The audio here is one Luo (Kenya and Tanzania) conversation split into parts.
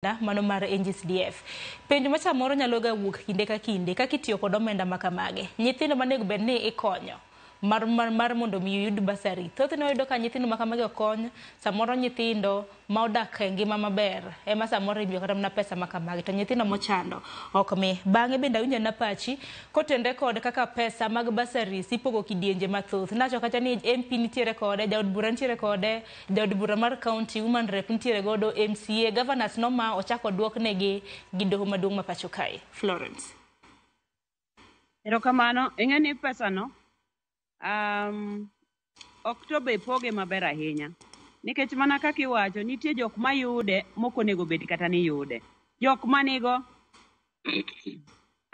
omenda mano mar NGCDF. Penjo ma samoro nyalo ga wuok kinde ka kinde kaka itiyo kod omenda ma kamage. Nyithindo manego bed ni ikonyo mar, mar, mar mondo mi yud basari. Thothne wayudo ka nyithindo ma kamagi okony, samoro nyithindo ma odak e ngima maber ema samoro imiyo kata mana pesa ma kamagi to nyithindo mochando ok mi. Bang'e bende awinjo na pachi kotenre kod kaka pesa mag basaris ipogo kidienje mathoth. Nacho kacha ni MP nitiere kode, jaod bura nitiere kode, Dhood bura mar county, woman rep nitiere godo, MCA, governors noma ochak oduok negi gi doho maduong' ma pacho kae. Florence. Erokamano, ing'e ni pesa no um, ok to be poge maber ahinya nikech mana kaka iwacho nitie jok mayude mok onego bed kata ni yude jok manigo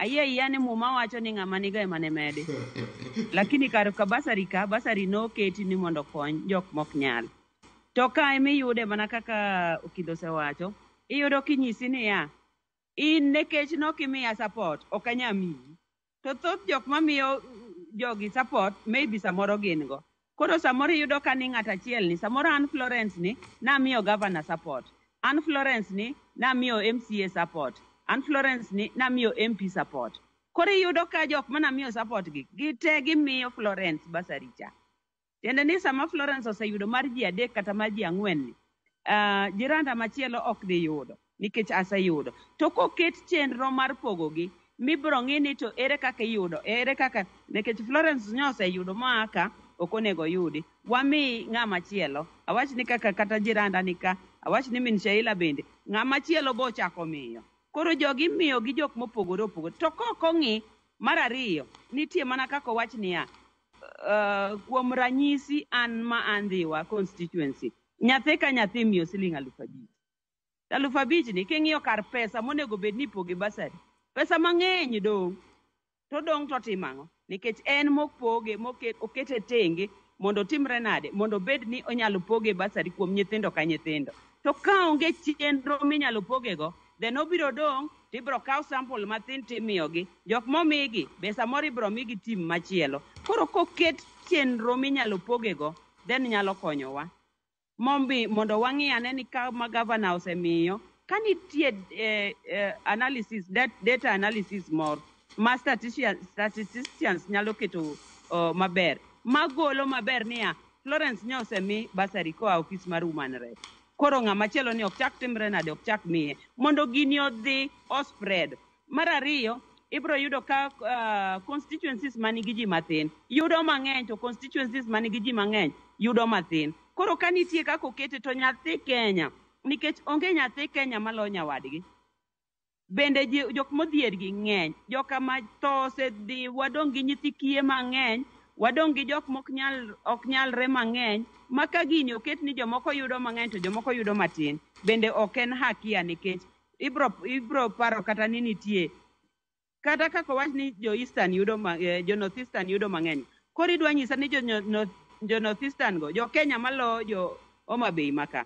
ayie ayiya ni muma wacho ni ng'ama nigo ema ne mede lakini kar ka basari ka basari noketi ni mondo okony jok mok nyal to ka ema iyude mana kaka okido osewacho iyudo kinyisi niya in nekech nokimiya support ok anyamiyi to thoth jok mamiyo jogi support maybe samoro gin go koro samoro iyudo ka ni ng'at achiel ni samoro an Florence ni namiyo governor support an Florence ni namiyo MCA support an Florence ni namiyo MP support koro iyudo ka jok manamiyo support gi gite gimiyo Florence basari cha Tiende ni sama Florence oseyudo mar ji adek kata mar ji ang'wen ni, ah, jiranda machielo ok dhi yudo nikech aseyudo. To koket chenro mar pogogi mibro ng'i ni to ere kaka iyudo, ere kaka nikech Florence nyo oseyudo ma ka ok onego oyudi. Wami ng'ama chielo. Awach ni kaka kata jiranda ni ka, awach ni min Sheila bende, ng'ama chielo bochako miyo. Koro jogi imiyo gi jok mopogore opogore. To kok ong'i, mar ariyo, nitie mana kaka owach niya, Uh, kuom ranyisi an ma andhiwa constituency nyathi ka nyathi imiyo siling aluf abich aluf abich ni king'iyo kar pesa monego bed ni ipoge basari pesa mang'eny dong' to dong' to timo ang'o nikech en mopoge okete tenge mondo otimre nade mondo obed ni onyalo poge basari kuom nyithindo ka nyithindo to ka onge chenro minyalo pogego then obiro dong' to ibiro kaw sample mathin to imiyogi. Jok momigi be samoro ibiro migi team machielo. Koro koket chenro minyalo pogego then nyalo konyowa mombi mondo wang'i ane ni ka ma gavana osemiyo ka nitie eh, eh, analysis dat, data analysis moro ma statistician, statisticians nyalo keto oh, maber magolo maber niya Florence nyo osemi basari koa ofis mar Women Rep. Koro ng'ama chielo ni ok chak timre nade, ok chak miye mondo gini odhi o spread. Mar ariyo, ibiro yudo ka uh, constituencies manigi ji mathin yudo mang'eny to constituencies manigi ji mang'eny yudo mathin. Koro ka nitie kaka okete to nyathi Kenya nikech onge nyathi Kenya maloyo nyawadgi. bende ji- jok modhier gi ng'eny joka ma tho osedhi wadong' gi nyithi kiye mang'eny wadong' gi jok mok nyal ok nyalre mang'eny ma ka gini oket ni jomoko yudo mang'eny to jomoko yudo matin bende ok en hakia nikech ibro ibro paro kata ni nitie kata kaka owach ni jo eastern yudo ma, eh, jo north eastern yudo mang'eny koro idwa nyisa ni jo, nyo- north- jo north eastern go jo kenya malo jo homa bay maka